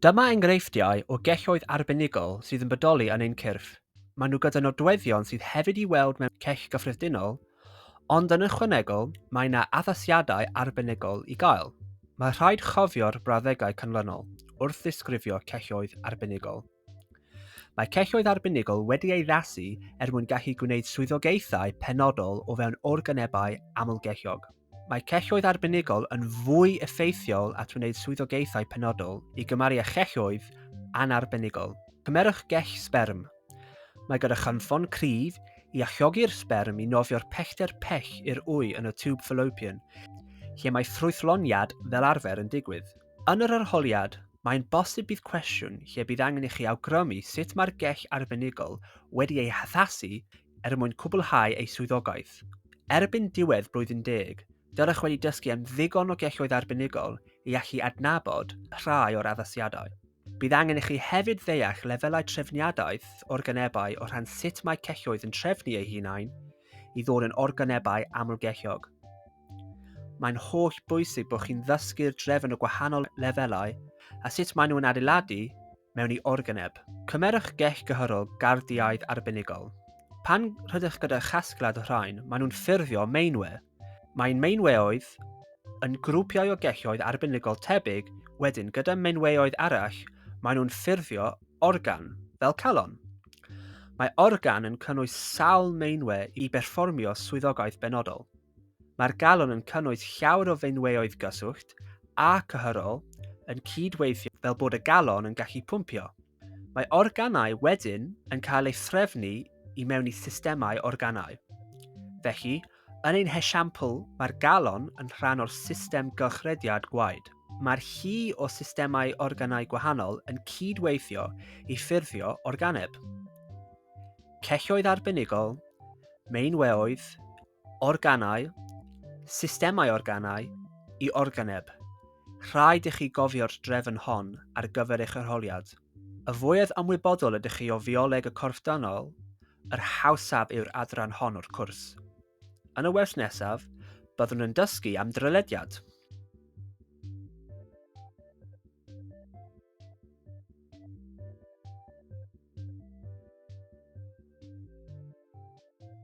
Dyma enghreifftiau o gelloedd arbenigol sydd yn bodoli yn ein cyrff. Maen nhw gyda nodweddion sydd hefyd i weld mewn cell gyffredinol, ond yn ychwanegol, mae yna addasiadau arbenigol i gael. Mae rhaid chofio'r brawddegau canlynol wrth ddisgrifio celloedd arbenigol. Mae celloedd arbenigol wedi ei addasu er mwyn gallu gwneud swyddogaethau penodol o fewn organebau amlgelliog. Mae celloedd arbenigol yn fwy effeithiol at wneud swyddogaethau penodol i gymaru â chelloedd anarbenigol. Cymerwch gell sberm. Mae gyda chynffon cryf i alluogi'r sberm i nofio'r pellter pell i'r wy yn y tiwb fallopian, lle mae ffrwythloniad fel arfer yn digwydd. Yn yr arholiad, mae'n bosib bydd cwestiwn lle bydd angen i chi awgrymu sut mae'r gell arbenigol wedi ei haddasu er mwyn cwblhau ei swyddogaeth. Erbyn diwedd blwyddyn deg, dylech wedi dysgu am ddigon o gelloedd arbenigol i allu adnabod rhai o'r addasiadau. Bydd angen i chi hefyd ddeall lefelau trefniadaeth organebau o rhan sut mae celloedd yn trefnu eu hunain i ddod yn organebau amlgelliog. Mae'n holl bwysig bod chi'n ddysgu'r drefn o gwahanol lefelau a sut maen nhw'n adeiladu mewn i organeb. Cymerwch gell gyhyrol gardiaidd arbenigol. Pan rydych gyda chasgliad o rhain, maen nhw'n ffurfio meinwe. Mae'n meinweoedd yn grwpiau o gelloedd arbenigol tebyg, wedyn gyda meinweoedd arall, maen nhw'n ffurfio organ, fel calon. Mae organ yn cynnwys sawl meinwe i berfformio swyddogaeth benodol. Mae'r galon yn cynnwys llawer o feinweoedd gyswllt a cyhyrol yn cyd-weithio fel bod y galon yn gallu pwmpio. Mae organau wedyn yn cael ei threfnu i mewn i systemau organau. Felly, yn ein hesiampl, mae'r galon yn rhan o'r system gylchrediad gwaed. Mae'r llu o systemau organau gwahanol yn cyd-weithio i ffurfio organeb. Celloedd arbenigol, meinweoedd, organau, systemau organau, i organeb. Rhaid i chi gofio'r drefn hon ar gyfer eich arholiad. Y fwyaf ymwybodol ydych chi o fioleg y corff dynol, yr hawsaf yw'r adran hon o'r cwrs. Yn y wers nesaf, byddwn yn dysgu am drylediad.